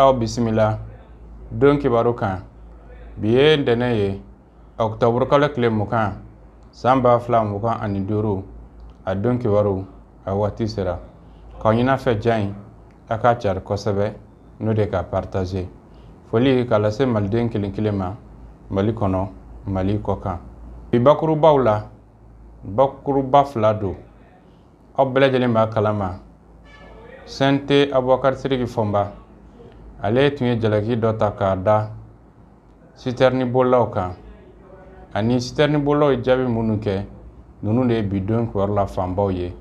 aw bisimila don kibaru kan bi ye ntɛnɛn ye ɔkutɔburukalo tile mugan san ba fila mugan ani duuru a don kibaru a waati sera k'a ɲin'aw fɛ ja in a k'a cari kosɛbɛ n'o de k'a partaze foli k'a lase maliden kelen kelen ma mali kɔnɔ mali kɔkan bi bakurubaw la bakuruba fila don aw bɛɛ lajɛlen b'a kalama CNT abubakari siriki fɔnba ale tun ye jalaki dɔ ta k'a da sitɛrini bolilaw kan ani sitɛrini bolilaw ye jaabi minnu kɛ ninnu de ye bi don kibaru la fanbaw ye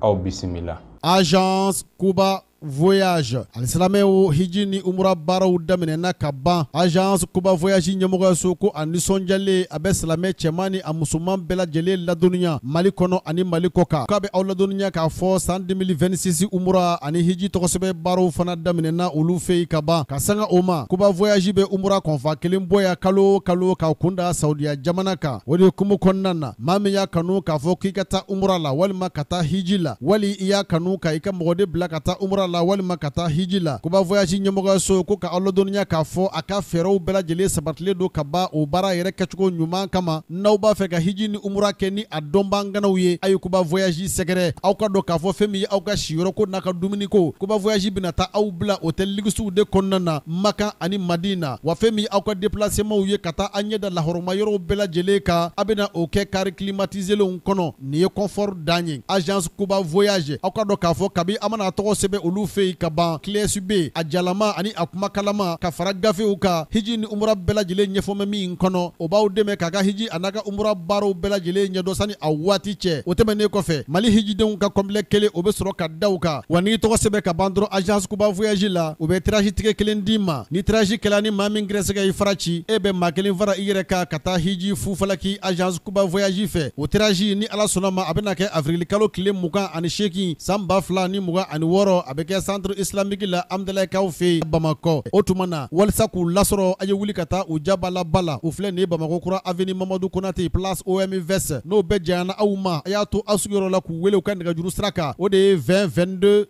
aw bisimila agence kuba voyage alisilamɛw hiji ni umura baaraw daminɛna ka ban agence kuba voyage ɲɛmɔgɔyaso ko a nisɔndiyalen a bɛ silamɛ cɛman ni a musoman bɛɛ lajɛlen ladɔnniya mali kɔnɔ ani mali kɔkan k'a bɛ aw ladɔnniya k'a fɔ san 2026 umura ani hiji tɔgɔsɛbɛn baaraw fana daminɛna olu fɛ yen ka ban ka sanga o ma kuba voyage bɛ umura convoi kelen bɔ yan kalo o kalo k'a kunda saudiya jamana kan o de hukumu kɔnɔna na maa min y'a kanu k'a fɔ k'i ka taa umura la walima ka taa hiji la wali i y'a kanu ka i ka mɔgɔden bila ka taa umura la walima ka taa hiji la kuba voyage ɲɛmɔgɔyaso ko ka aw ladɔnniya k'a fɔ a ka fɛɛrɛw bɛɛ lajɛlen sabatilen don ka ban o baara yɛrɛ kɛcogo ɲuman kama n'aw b'a fɛ ka hiji ni umura kɛ ni a dɔnbaa ŋanaw ye a ye kuba voyage sɛgɛrɛ aw k'a dɔn k'a fɔ fɛn min ye aw ka siyɔrɔko n'a ka dumuniko kuba voyage bɛna taa aw bila hôtel luxew de kɔnɔna na makan ani madina Wa fɛn min ye aw ka déplacementw ye ka taa a ɲɛ da lahɔrɔma yɔrɔw bɛɛ lajɛlen kan, a bɛna o kɛ car climatisélenw kɔnɔ. Nin ye confort dan ye. Agence Kuba Voyage, aw k'a dɔn k'a fɔ kabi a mana a tɔgɔ sɛbɛn olu fɛ yen ka ban, clé USB, a jalama ani a kumakanlama, ka fara gafew kan. Hiji ni umura bɛɛ lajɛlen ɲɛfɔlen bɛ min kɔnɔ, o b'aw dɛmɛ k'a ka hiji an'a ka umura baaraw bɛɛ lajɛlen ɲɛdɔn sani a waati cɛ. O tɛmɛnen kɔfɛ, Mali hijidenw ka complet kelen o bɛ sɔrɔ ka da u kan. Wa n'i y'i tɔgɔ sɛbɛn ka ban dɔrɔn Agence Kuba Voyage la, u bɛ tirage ticket kelen d'i ma. Ni tirage kɛla ni maa min gɛrɛsɛgɛ y'i fara ci, e bɛ maa kelen fara i yɛrɛ kan ka taa hiji fu falaki agence Kuba voyage fɛ. O tirage ni Ala sɔnn'a ma, a bɛna kɛ avril-kalo tile mugan ani seegin san ba fila ni mugan ani wɔɔrɔ. A bɛ kɛ centre islamique la Hamdalayikaw fɛ yen Bamakɔ. O tuma na, walisa k'u lasɔrɔ, a ye wuli ka taa u ja b'a la ba la. U filɛ nin ye Bamakɔ kura avenue Mamadu Konate, place OMVS. N'o bɛɛ janyana aw ma, a y'a to aw sigiyɔrɔ la k'u wele u ka nɛgɛjuru sira kan, o de ye 20 22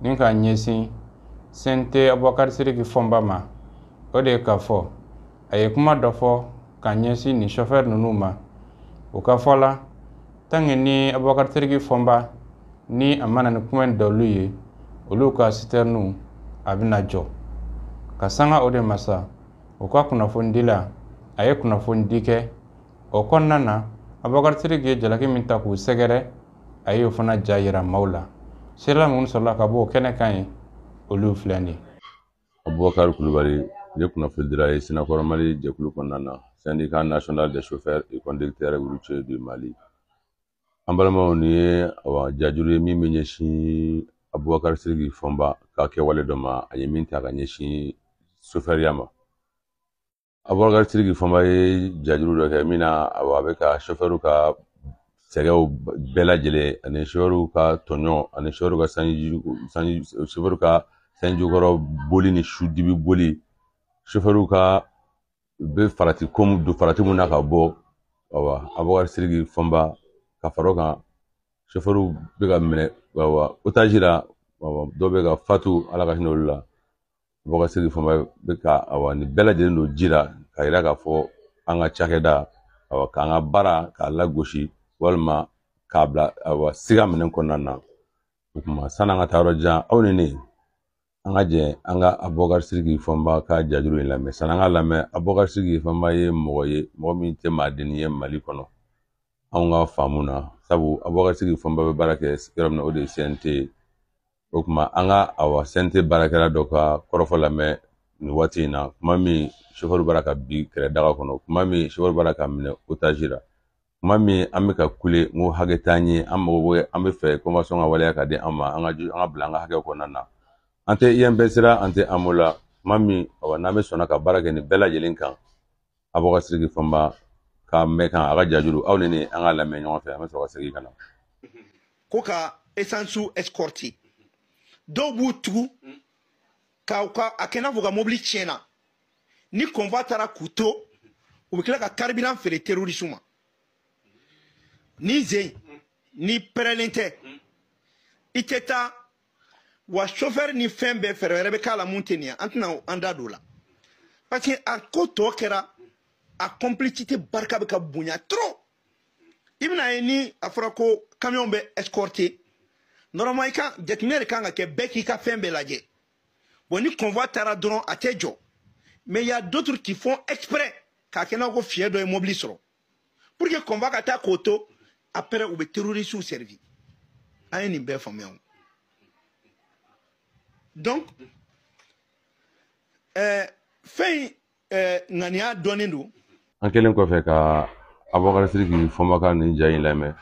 ni k'a ɲɛsin CNT abubakari siriki fɔmba ma o de ye k'a fɔ a ye kuma dɔ fɔ ka ɲɛsin nin sofɛrɛ ninnu ma u ka fɔ la tant que ni abubakari siriki fɔmba ni a ma na ni kuma in dɔlu ye olu ka sitɛriniw a bɛna jɔ ka sanga o de ma sa u ka kunnafonidila a ye kunnafonidi kɛ o kɔnɔna na abubakari siriki ye jalaki min ta k'u sɛgɛrɛ a y'o fana ja yira maaw la sirila minnu sɔrɔla ka bɔ o kɛnɛ kan ye olu filɛ nin ye abubakari kulubali ne kunnafonidila ye synacor mali jɛkulu kɔnɔna na syndicat national des chauffeurs et conducteurs routiers du mali an balimaw nin ye awa jajuru ye min bɛ ɲɛsin abubakari siriki fɔnba ka kɛwale dɔ ma a ye min ta ka ɲɛsin sofɛriya ma abubakar siriki fɔnba ye jajuru dɔ kɛ min na a bɛ ka sofɛriw ka sɛgɛw bɛɛ lajɛlen ani sofɛriw ka tɔɲɔ ani sofɛriw ka sanji sanji sofɛriw ka sanji kɔrɔ boli ni su dibi boli sofɛriw ka u bɛ farati ko mun don farati mun na ka bɔ awa abubakar siriki fɔnba ka fara o kan sofɛriw bɛ ka minɛ awa otazi la awa dɔw bɛ ka fatu ala ka hinɛ olu la Bubakar siriki fɔnba bɛ ka awa nin bɛɛ lajɛlen don ji la k'a yira k'a fɔ an ka cakɛda awa k'an ka baara k'a lagosi walima k'a bila awa siga minɛn kɔnɔna na o tuma sani an ka taa yɔrɔ jan aw ni ne an ka jɛ an ka abubakari siriki fɔnba ka jajuru in lamɛn sani an k'a lamɛn abubakari siriki fɔnba ye mɔgɔ ye mɔgɔ min tɛ maadennin ye mali kɔnɔ anw ka faamu na sabu abubakari siriki fɔnba bɛ baara kɛ yɔrɔ min na o de ye cnt ye o kuma an ka awa cnt baarakɛla dɔ ka kɔrɔfɔ lamɛn nin waati in na kuma min sofɛri b'a la ka bin kɛlɛ daga kɔnɔ kuma min sofɛri b'a la ka minɛ otazi la kuma min an bɛ ka kule ko hakɛ t'an ye an mago bɛ an b'a fɛ convention ka waleya ka di an ma an ka ju an ka bila an ka hakɛ kɔnɔna na an tɛ inps la an tɛ amo la kuma min awa n'an bɛ sɔnna ka baara kɛ nin bɛɛ lajɛlen kan abubakar siriki fɔnba k'a mɛn kan a ka jajuru aw ni ne an k'a lamɛn ɲɔgɔn fɛ an bɛ sɔrɔ ka segin ka na ko ka esansu escorter dɔw b'u tugu ka u ka a kɛ n'a fɔ u ka mobili tiɲɛna ni convoi taara k'u to u bɛ tila ka carburant feere terorisiw ma ni zen ni pɛrɛlen tɛ i tɛ taa wa chauffeur ni fɛn bɛɛ fɛɛrɛ wɛrɛ bɛ k'a la min tɛ nin ye an tɛna an da don o la parce que a ko tɔ kɛra a complicité barika bɛ ka bonya trop i bɛna a ye ni a fɔra ko camion bɛ escorter normalement i ka jateminɛ de kan ka kɛ bɛɛ k'i ka fɛn bɛɛ lajɛ bon ni convoi taara dɔrɔn a tɛ jɔ mais il y a d'autres qui font exprès k'a kɛ n'a ko fiɲɛ dɔ ye mobili sɔrɔ pour que convoi ka taa k'o to après u bɛ terrorisiw servi an ye nin bɛɛ faamuya o donc ɛɛ eh, fɛn in ɛɛ eh, ŋaniya dɔnnen don. an kɛlen kɔfɛ ka abubakar siriki fɔnba ka nin ja in lamɛn.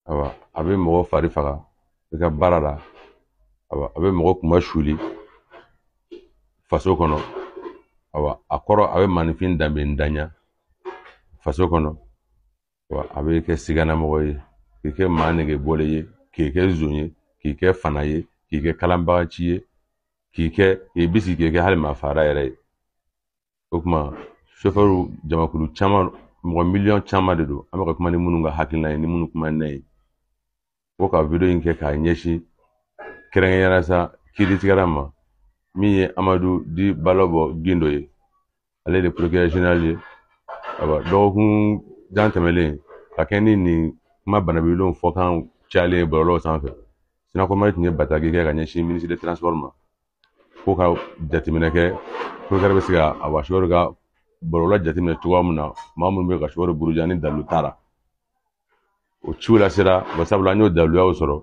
awa a bɛ mɔgɔ fari faga i ka baara la awa a bɛ mɔgɔ kunmasuuli faso kɔnɔ awa a kɔrɔ a bɛ maninfin danbentanya faso kɔnɔ awa a b'i kɛ siganamɔgɔ ye k'i kɛ maa nege bɔlen ye k'i kɛ zon ye k'i kɛ faana ye k'i kɛ kalabaanci ye k'i kɛ k'i bisigi k'i kɛ hali maafagala yɛrɛ ye o kuma sofɛriw jamakulu caman mɔgɔ miliyɔn caman de don an bɛ ka kuma ni minnu ka hakilina ye ni minnu kuma n'a ye ko ka wideyo in kɛ k'a ɲɛsin kɛrɛnkɛrɛnnenya la sa kiiritigɛla ma min ye amadu di balɔbɔ gindo ye ale de procureur general ye awa dɔgɔkun jan tɛmɛlen ka kɛ ni nin kuma banabilenw fɔkan cayalen ye bɔlɔlɔw sanfɛ sinakɔ mali tun ye bataki kɛ ka ɲɛsin ministre de transport ma ko ka jateminɛ kɛ bɛ se ka a wasiwari ka bɔlɔlɔ jateminɛ cogoya min na maa minnu bɛ ka sɔrɔ buruja ni dalu t'a la o ciw la sera sabula an y'o daluyaw sɔrɔ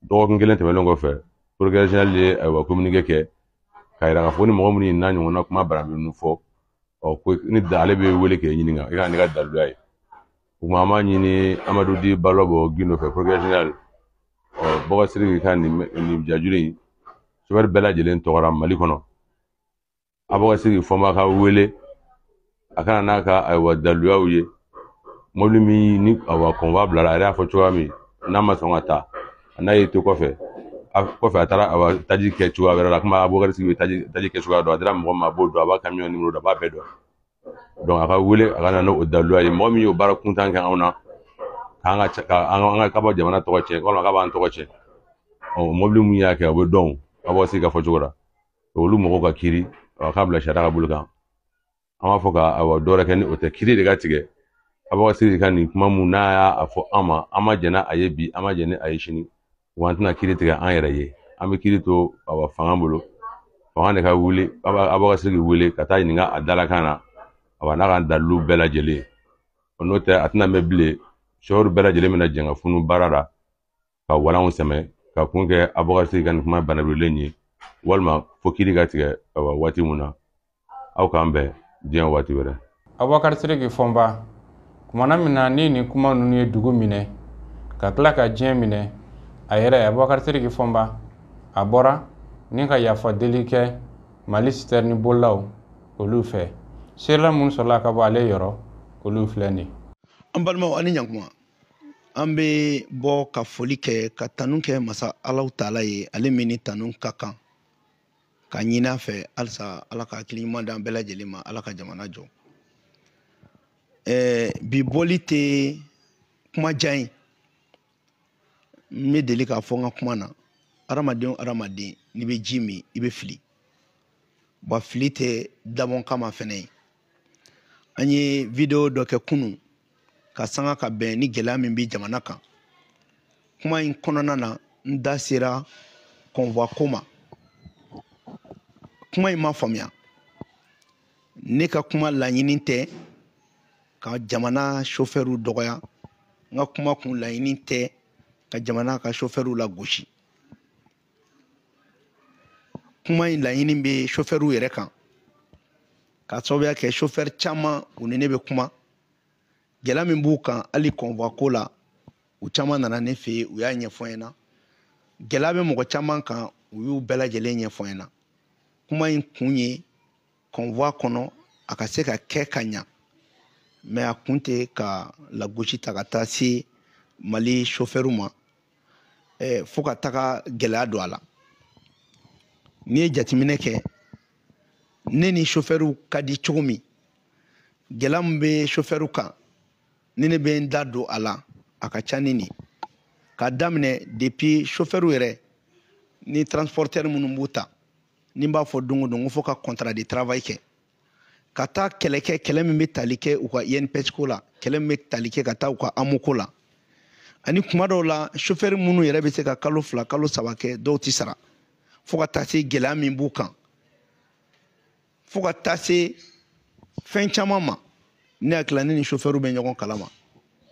dɔgɔkun kelen tɛmɛnen kɔfɛ procureur general ye ayiwa kominike kɛ k'a yira k'a fɔ ni mɔgɔ minnu n'a ɲɔgɔnna kuma baraminnu fɔ ɔ ko ni da ale b'i wele k'i ɲininka i ka na n'i ka daluya ye o kuma an b'a ɲini amadu di balɔbɔ gindo fɛ procureur general ɔ bubakari siriki ka nin nin jajuru in sofɛri bɛɛ lajɛlen tɔgɔ la mali kɔnɔ abubakari siriki fɔnba ka wele a ka na n'a ka ayiwa daluyaw ye mɔbili min ni ayiwa kɔnwa bilara a yɛrɛ y'a fɔ cogoya min n'a ma sɔn ka taa n'a y'i to kɔfɛ a kɔfɛ a taara ayiwa taji kɛ cogoya wɛrɛ la komi abubakari siriki bɛ taji taji kɛ cogoya dɔn a dira mɔgɔ ma a b'o dɔn a b'a kamiyɔn nimoro dɔn a b'a bɛɛ dɔn donc a ka wele a ka na n'o daliluya ye mɔgɔ min y'o baara kuntan kɛ anw na k'an ka ka an ka k'a bɛ jamana tɔgɔ cɛn walima k'a b'an tɔgɔ cɛn ɔ mɔbili mun y'a kɛ o bɛ dɔn abubakari siriki ka fɔcogo la olu mɔgɔw ka kiri a k'a bila sariya ka bolo kan an b'a fɔ ka awa dɔ wɛrɛ kɛ ni o tɛ kiri de ka tigɛ abubakari siriki ka nin kuma mun n'a y'a fɔ an ma an ma jɛn n'a a ye bi an ma jɛn ni a ye sini wa an tɛna kiri tigɛ an yɛrɛ ye an bɛ kiri to a fanga bolo fanga de ka wuli abubakari siriki wele ka taa ɲininka a dalakan na a b'a n'a ka dalilu bɛɛ lajɛlen o n'o tɛ a tɛna mɛn bilen sofɛri bɛɛ lajɛlen bɛna jɛn ka funu baara la ka wolanw sɛmɛ ka kun kɛ abubakari siriki ka nin kuma banabilen ye walima fo kiri ka tigɛ a waati mun na aw k'an bɛn diɲɛ waati wɛrɛ abubakari siriki fɔnba kumana min na ni nin kuma ninnu ye dugu minɛ ka tila ka diɲɛ minɛ a yɛrɛ abubakari siriki fɔnba a bɔra ni ka yafa deli kɛ mali sitɛrini bolilaw olu fɛ seerela minnu sɔrɔla ka bɔ ale yɔrɔ olu filɛ nin an balimaw ani ɲakuma an bɛ bɔ ka foli kɛ ka tanu kɛ masa alahu taala ye ale min ni tanu ka kan k'a ɲini a fɛ halisa ala ka hakili ɲuman d'an bɛɛ lajɛlen ma ala ka jamana jɔ ɛɛ bi bɔli tɛ kuma jan ye n bɛ deli k'a fɔ n ka kuma na hadamaden o hadamaden n'i bɛ ji min i bɛ fili wa fili tɛ dabɔnkama fɛnɛ ye an ye video dɔ kɛ kunun k'a sanga ka bɛn ni gɛlɛya min bɛ jamana kan kuma in kɔnɔna na n da sera convoi ko ma kuma in ma faamuya ne ka kuma laɲini tɛ ka jamana sofɛriw dɔgɔya n ka kuma kun laɲini tɛ ka jamana ka sofɛriw lagosi kuma in laɲini bɛ sofɛriw yɛrɛ kan k'a sababuya kɛ sofɛri caman u ni ne bɛ kuma gɛlɛya min b'u kan hali convoi ko la u caman nana ne fɛ yen u y'a ɲɛfɔ n ɲɛna gɛlɛya bɛ mɔgɔ caman kan u y'u bɛɛ lajɛlen ɲɛfɔ n ɲɛna kuma in kun ye convoi kɔnɔ a ka se ka kɛ ka ɲa mais a kun tɛ ka lagosi ta ka taa se mali sofɛriw ma eh, fo ka taga gɛlɛya don a la n'i ye jateminɛ kɛ ne ni sofɛriw ka di cogo min gɛlɛya min bɛ sofɛriw kan ni ne bɛ n da don a la a ka ca ni nin k'a daminɛ depuis sofɛriw yɛrɛ ni transportɛri minnu b'u ta ni n b'a fɔ don o don ko fo ka contrat de travail kɛ ka taa kɛlɛ kɛ kɛlɛ min bɛ tali kɛ u ka INPS ko la kɛlɛ min bɛ tali kɛ ka taa u ka AMO ko la ani kuma dɔw la chauffeur minnu yɛrɛ bɛ se ka kalo fila kalo saba kɛ dɔw tɛ sara fo ka taa se gɛlɛya min b'u kan fo ka taa se fɛn caman ma ne hakili la ne ni chauffeur bɛ ɲɔgɔn kalama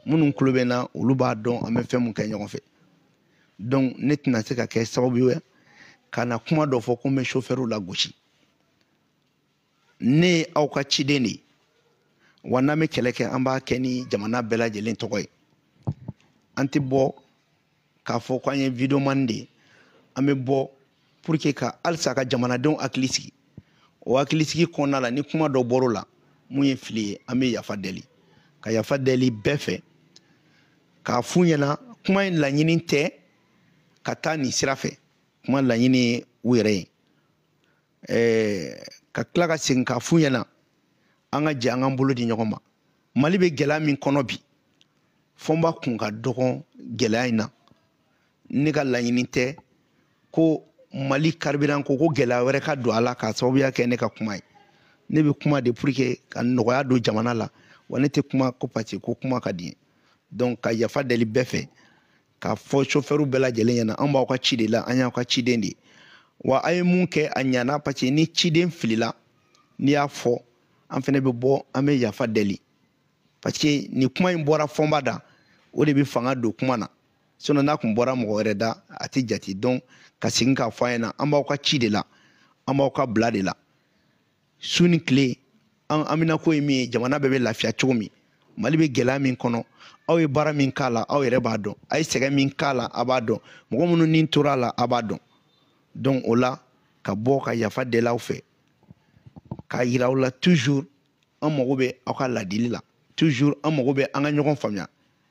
minnu tulo bɛ n na olu b'a dɔn an bɛ fɛn min kɛ ɲɔgɔn fɛ donc ne tɛna se ka kɛ sababu ye ka na kuma dɔ fɔ ko n bɛ sofɛriw lagosi ne ye aw ka ciden de ye wa n'an bɛ kɛlɛ kɛ an b'a kɛ ni jamana bɛɛ lajɛlen tɔgɔ ye an tɛ bɔ k'a fɔ ko an ye videoman de ye an bɛ bɔ pour que ka halisa ka jamanadenw hakili sigi o hakili sigi kɔnɔna la ni kuma dɔ bɔr'o la min ye fili ye an bɛ yafa deli ka yafa deli bɛɛ fɛ k'a f'u ɲɛna kuma in laɲini tɛ ka taa nin sira fɛ kuma laɲini ye u yɛrɛ ye ɛɛ ka tila ka segin k'a f'u ɲɛna an ka jɛ an k'an bolo di ɲɔgɔn ma mali bɛ gɛlɛya min kɔnɔ bi fɔnba kun ka dɔgɔn gɛlɛya in na ne ka laɲini tɛ ko mali carburant ko ko gɛlɛya wɛrɛ ka don a la k'a sababuya kɛ ne ka kuma ye ne bɛ kuma de pour que ka nɔgɔya don jamana la wa ne tɛ kuma ko parce que kuma ka di n ye donc ka yafa deli bɛɛ fɛ k'a fɔ sofɛriw bɛɛ lajɛlen ɲɛna an b'aw ka ci de la an y'aw ka ciden de ye wa a ye min kɛ a ɲana parce ni ciden filila n'i y'a fɔ an fɛnɛ bɛ bɔ an bɛ yafa deli parce que nin kuma in bɔra fɔnba da o de bɛ fanga don kuma na sinon n'a kun bɔra mɔgɔ wɛrɛ da a tɛ jate donc ka segin k'a fɔ a ɲɛna an b'aw ka ci de la an b'aw ka bila de la su ni tile an haminanko ye min ye jamana bɛɛ bɛ lafiya cogo min mali bɛ gɛlɛya min kɔnɔ aw ye baara min k'a la aw yɛrɛ b'a dɔn a ye sɛgɛn min k'a la a b'a dɔn mɔgɔ minnu ni tora a la a b'a dɔn donc o la ka bɔ ka yafa deli aw fɛ k'a yira aw la toujours an mago bɛ aw ka ladili la toujours an mago bɛ an ka ɲɔgɔn faamuya